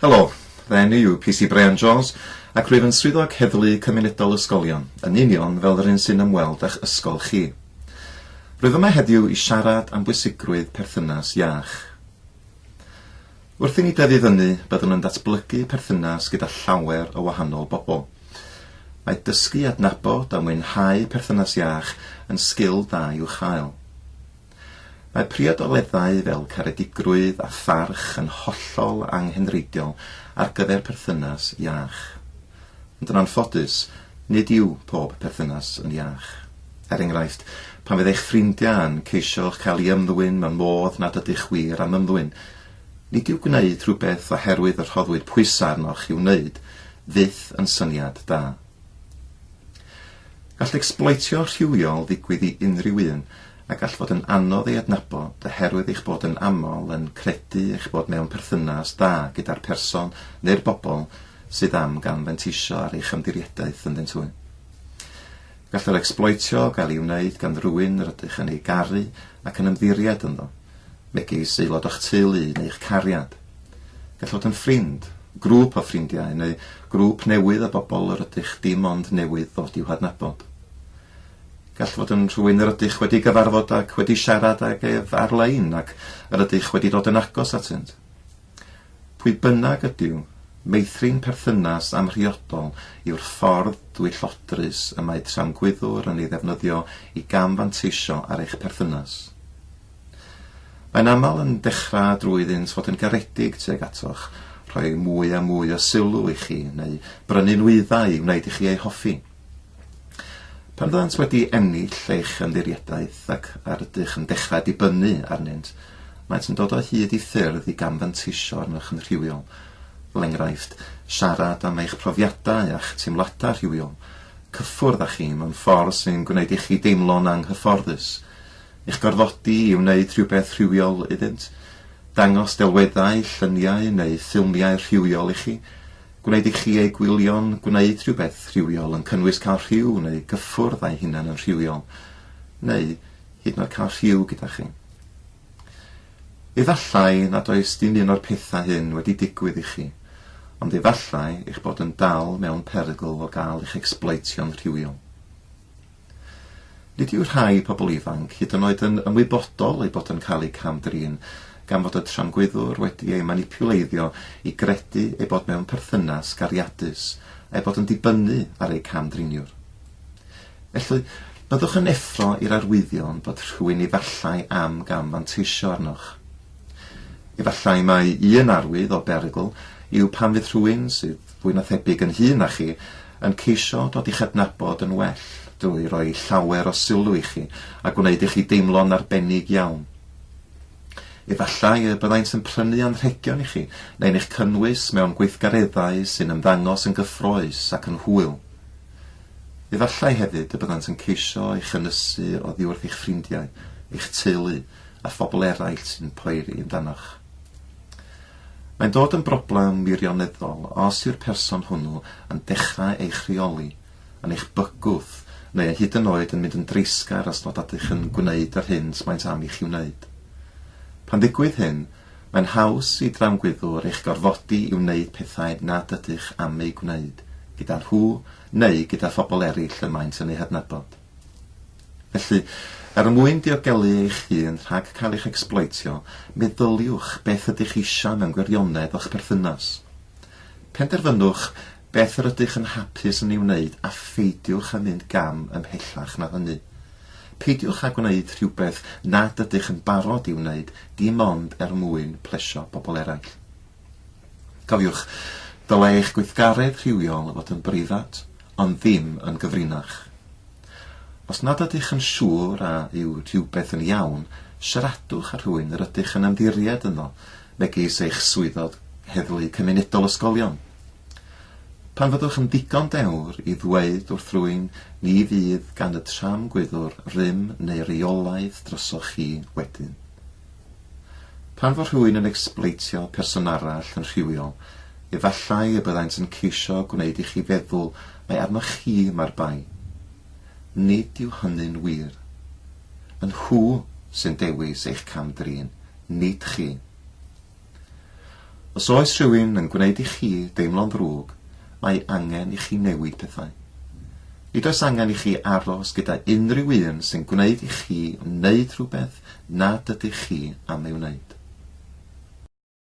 Helo, fy enw i yw PC Bryan Jones ac rwyf yn Swyddog Heddlu Cymunedol Ysgolion, yn union fel yr un sy'n ymweld â'ch ysgol chi. Rwyf yma heddiw i siarad am bwysigrwydd perthynas iach. Wrth i ni dyfu fyny, byddwn yn datblygu perthynas gyda llawer o wahanol bobl. Mae dysgu i adnabod a mwynhau perthynas iach yn sgil da i'w chael. Mae priodoleddau fel caredigrwydd a pharch yn hollol anghenreidiol ar gyfer perthynas iach. Ond yn anffodus, nid yw pob perthynas yn iach. Er enghraifft, pan fydd eich ffrindiau yn ceisio'ch cael i ymddwyn mewn modd nad ydych wir am ymddwyn, nid yw gwneud rhywbeth oherwydd y rhoddwyd pwysau arnoch i'w wneud fyth yn syniad da. Gall ecsbloetio rhywiol ddigwydd i unrhyw un, a gall fod yn anodd ei adnabod oherwydd eich bod yn aml yn credu eich bod mewn perthynas da gyda'r person neu'r bobl sydd am gan fanteisio ar eich ymddiriedaeth ynddynt hwy. Gall yr ecsbloetio gael ei wneud gan rywun yr ydych yn ei garu ac yn ymddiried ynddo, megis aelod o'ch teulu neu'ch cariad. Gall fod yn ffrind, grŵp o ffrindiau neu grŵp newydd o bobl yr ydych dim ond newydd ddod i'w hadnabod. Gall fod yn rhywun yr ydych wedi gyfarfod ac wedi siarad ag ef ar-lein ac yr ydych wedi dod yn agos atynt. Pwy bynnag ydyw, meithrin perthynas amhriodol yw'r ffordd dwyllodrus y mae tramgwyddwr yn ei ddefnyddio i gam-fanteisio ar eich perthynas. Mae'n aml yn dechrau drwy iddynt fod yn garedig tuag atoch, rhoi mwy a mwy o sylw i chi, neu brynu nwyddau i wneud i chi eu hoffi. Pan fyddant wedi ennill eich ymddiriedaeth ac ar ydych yn dechrau dibynnu arnynt, maent yn dod o hyd i ffyrdd i gamfanteisio arnoch yn rhywiol. Fel enghraifft, siarad am eich profiadau a'ch teimladau rhywiol, cyffwrdd â chi mewn ffordd sy'n gwneud i chi deimlo'n anghyfforddus, eich gorfodi i wneud rhywbeth rhywiol iddynt, dangos delweddau, lluniau neu ffilmiau rhywiol i chi, Gwneud i chi eu gwylio'n gwneud rhywbeth rhywiol yn cynnwys cael rhyw neu gyffwrdd â'i hunan yn rhywiol, neu hyd yn oed cael rhyw gyda chi. Efallai nad oes dim un o'r pethau hyn wedi digwydd i chi, ond efallai eich bod yn dal mewn perygl o gael eich ecsbloetio'n rhywiol. Nid yw rhai pobl ifanc hyd yn oed yn ymwybodol eu bod yn cael eu cam-drin gan fod y tramgwyddwr wedi eu manipiwleiddio i gredu eu bod mewn perthynas gariadus a'u bod yn dibynnu ar eu cam-driniwr. Felly, byddwch yn effro i'r arwyddion bod rhywun efallai am gam-fanteisio arnoch. Efallai mai un arwydd o berygl yw pan fydd rhywun sydd fwy na thebyg yn hŷn na chi, yn ceisio dod i'ch adnabod yn well drwy roi llawer o sylw i chi a gwneud i chi deimlo'n arbennig iawn. Efallai y byddant yn prynu anrhegion i chi neu'n eich cynnwys mewn gweithgareddau sy'n ymddangos yn gyffrous ac yn hwyl. Efallai hefyd y byddant yn ceisio eich ynysu oddi wrth eich ffrindiau, eich teulu a phobl eraill sy'n poeri amdanoch. Mae'n dod yn broblem wirioneddol os yw'r person hwnnw yn dechrau eich rheoli, yn eich bygwth, neu hyd yn oed yn mynd yn dreisgar os nad ydych yn gwneud yr hyn sydd maent am i chi wneud. Pan ddigwydd hyn, mae'n haws i dramgwyddwr eich gorfodi i wneud pethau nad ydych am eu gwneud, gyda nhw neu gyda phobl eraill y maent yn eu hadnabod. Felly, er mwyn diogelu eich hun rhag cael eich ecsbloetio, meddyliwch beth ydych chi eisiau mewn gwirionedd o'ch perthynas. Penderfynwch beth yr ydych yn hapus yn ei wneud a pheidiwch â mynd gam ymhellach na hynny. Peidiwch â gwneud rhywbeth nad ydych yn barod i'w wneud dim ond er mwyn plesio pobl eraill. Cofiwch, dylai eich gweithgaredd rhywiol fod yn breifat, ond ddim yn gyfrinach. Os nad ydych yn siŵr a yw rhywbeth yn iawn, siaradwch â rhywun yr ydych yn ymddiried ynddo, megis eich swyddog heddlu cymunedol ysgolion. Pan fyddwch yn ddigon dewr i ddweud wrth rywun, ni fydd gan y tramgwyddwr rym neu reolaeth drosoch chi wedyn. Pan fo rhywun yn ecsbloetio person arall yn rhywiol, efallai y byddant yn ceisio gwneud i chi feddwl mai arnoch chi mae'r bai. Nid yw hynny'n wir. Y nhw sy'n dewis eich cam-drin, nid chi. Os oes rhywun yn gwneud i chi deimlo'n ddrwg, mae angen i chi newid pethau. Nid oes angen i chi aros gyda unrhyw un sy'n gwneud i chi wneud rhywbeth nad ydych chi am ei wneud.